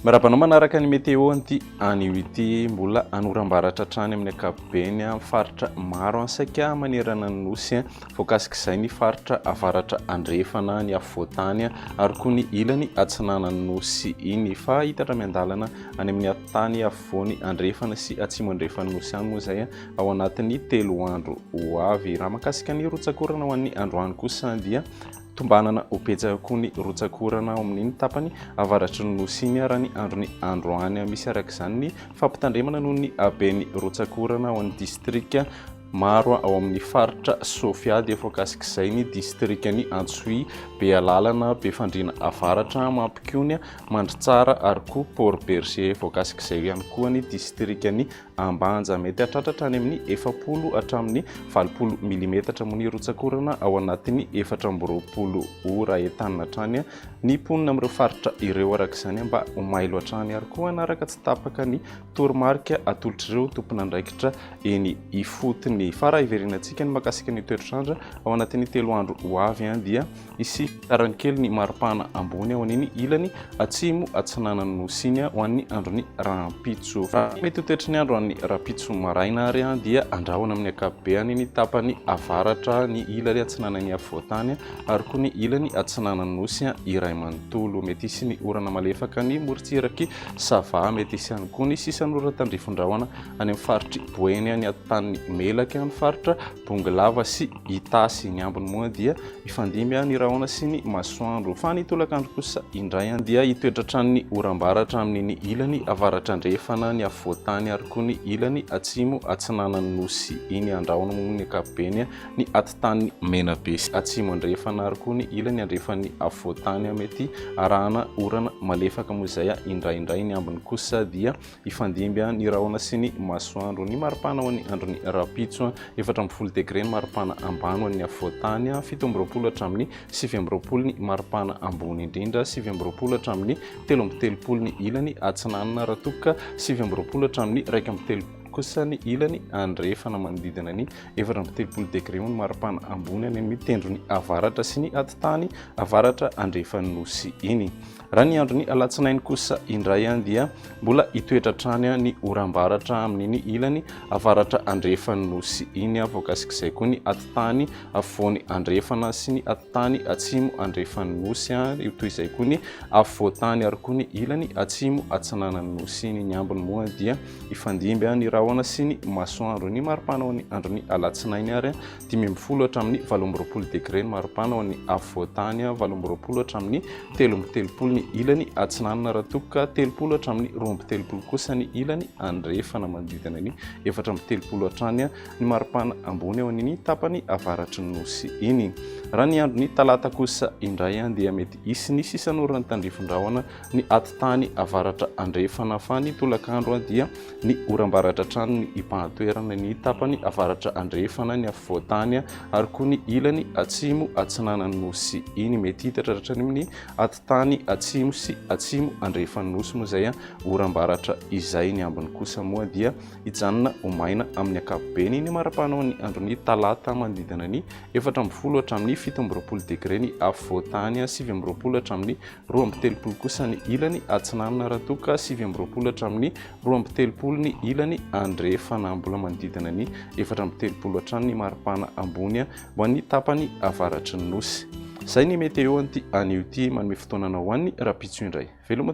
Miarahaba anao manaraka ny météo anty anio ity mbola anorambaratra hatrany amin'ny ankapobeny amin'ny faritra maro any saika manerana ny nosy voakasik'izay ny faritra avaratra andrefana ny afovoantany ary koa ny ilany atsinanan'ny nosy iny fa hitatra miandalana any amin'ny atitany afovoany andrefana sy atsimo andrefan'ny Nosy any moa izay ao anatin'ny telo andro ho avy. Raha makasika ny rotsakorana ho an'ny androany kosa dia tombanana ho betsaka koa ny rotsakorana ao amin'ny tapany avaratry ny Nosy iny raha ny andron'ny androany. Misy araka izany ny fampitandremana noho ny haben'ny rotsakorana ao amin'ny distrika Maro ao amin'ny faritra Sofia dia voakasik'izay ny distrikan'i Antsohihy, Bealalana, Befandriana Avaratra, Mampikony, Mandritsara ary koa Port Bergé. Voakasik'izay ihany koa ny distrikan'i Ambanja. Mety hahatratra hatrany amin'ny efapolo hatramin'ny valopolo milimetatra moa ny rotsak'orana ao anatin'ny efatra amby roapolo ora. Entanina hatrany ny mponina amin'ireo faritra ireo araka izany mba ho mailo hatrany ary koa hanaraka tsy tapaka ny toromarika atolotr'ireo tomponandraikitra eny ifotony. Fa raha hiverenantsika ny makasika ny toetrandra ao anatin'ny telo andro ho avy dia hisy fitarany kely ny maripana ambony ao an'iny ilany atsimo atsinanan'ny nosy iny ho an'ny andron'ny rahampitso. Mety ho toetry ny andro an'ny rahampitso maraina ary dia andrahona amin'ny ankapobeny ny tapany avaratra, ny ilany atsinanan'ny afovoantany ary koa ny ilany atsinanan'ny nosy iray manontolo. Mety hisy ny orana malefaka ny morontsiraky Sava, mety hisy ihany koa ny sisan'oradan-drifondrahona any amin'ny faritr'i Boeny any atotanin'i Melaky, amin'ny faritra Bongolava sy Itasy. Ny ambiny moa dia mifandimby ny rahona sy ny masoandro, fa ny tolakandro kosa indray dia hitoetra hatrany ny oram-bara hatramin'ny ny ilany avaratra-andrefana, ny afovoan-tany ary koa ny ilany atsimo-atsinanan'ny Nosy iny. Andrahoina moa ny ankapobeny. ny atitany Menabe sy atsimo andrefana ary koa ny ilany andrefan'ny afovoantany mety arahana orana malefaka moa izay indraindray ny ambiny kosa dia hifandimby ny rahona sy ny masoandro ny maripana ho an'ny andron'ny rapitso efatra amby folo degre ny maripana ambany ho an'ny afovoantany fito amby roapolo hatramin'ny sivy amby roapolo ny maripana ambony indrindra sivy amby roapolo hatramin'ny telo amby telopolo ny ilany atsinanana raha toa ka sivy amby roapolo hatramin'ny iraika amby telopolo kosa ny ilany andrefana manodidina ny efatra amby telopolo degré ho ny maripana ambony any amin'ny tendrony avaratra sy ny atitany avaratra andrefan'ny nosy iny. Raha ny andron'ny alatsinainy kosa indray any dia mbola hitoetra hatrany ny oram-baratra amin'iny ilany avaratra andrefan'ny nosy iny voakasik'izay koa ny atitany afovoany andrefana sy ny atitany atsimo andrefan'ny nosy ary io toy izay koa ny afovoantany ary koa ny ilany atsimo atsinanan'ny nosy iny ny ambiny moa dia Hifandimby ny rahona sy ny masoandro. Ny maripana ao amin'ny andron'ny alatsinainy ary dimy ambin'ny folo hatramin'ny valo amby roapolo degre ny maripana ao amin'ny afovoantany, valo amby roapolo hatramin'ny telo amby telopolo ny ilany atsinanana raha toa ka telopolo hatramin'ny roa amby telopolo kosa ny ilany andrefana manodidina ny efatra amby telopolo hatrany ny maripana ambony ao amin'ny tapany avaratry ny nosy iny. Raha ny andron'ny talata kosa indray dia mety hisy ny sisan'orana tandrifin'ny rahona ny ati-tany avaratra andrefana fany tolakandro dia ny oram-baratra hatrany ny ipahan-toerana ny tapany avaratra andrefana ny afovoan-tany ary koa ny ilany atsimo atsinanan'ny nosy iny mety hitatra hatrany amin'ny ati-tany atsimo sy atsimo andrefan'ny nosy moa izay oram-baratra izay ny ambiny kosa moa dia hijanona ho maina amin'ny ankapobeny ny marapanao ny andron'ny talata manodidina ny efatra ambin'ny folo hatramin'ny fito amby roapolo degre ny afovoan-tany sivy amby roapolo hatramin'ny roa amby telopolo kosa ny ilany Atsinanana raha toa ka sivy amby roapolo hatramin'ny roa amby telopolo ny ilany Andrefana. Mbola manodidina ny efatra amby telopolo hatrany ny maripana ambony ho an'ny tapany avaratry ny nosy. Izay ny météo an'ity anio ity. Manome fotoana anao ho an'ny rahampitso indray. Veloma.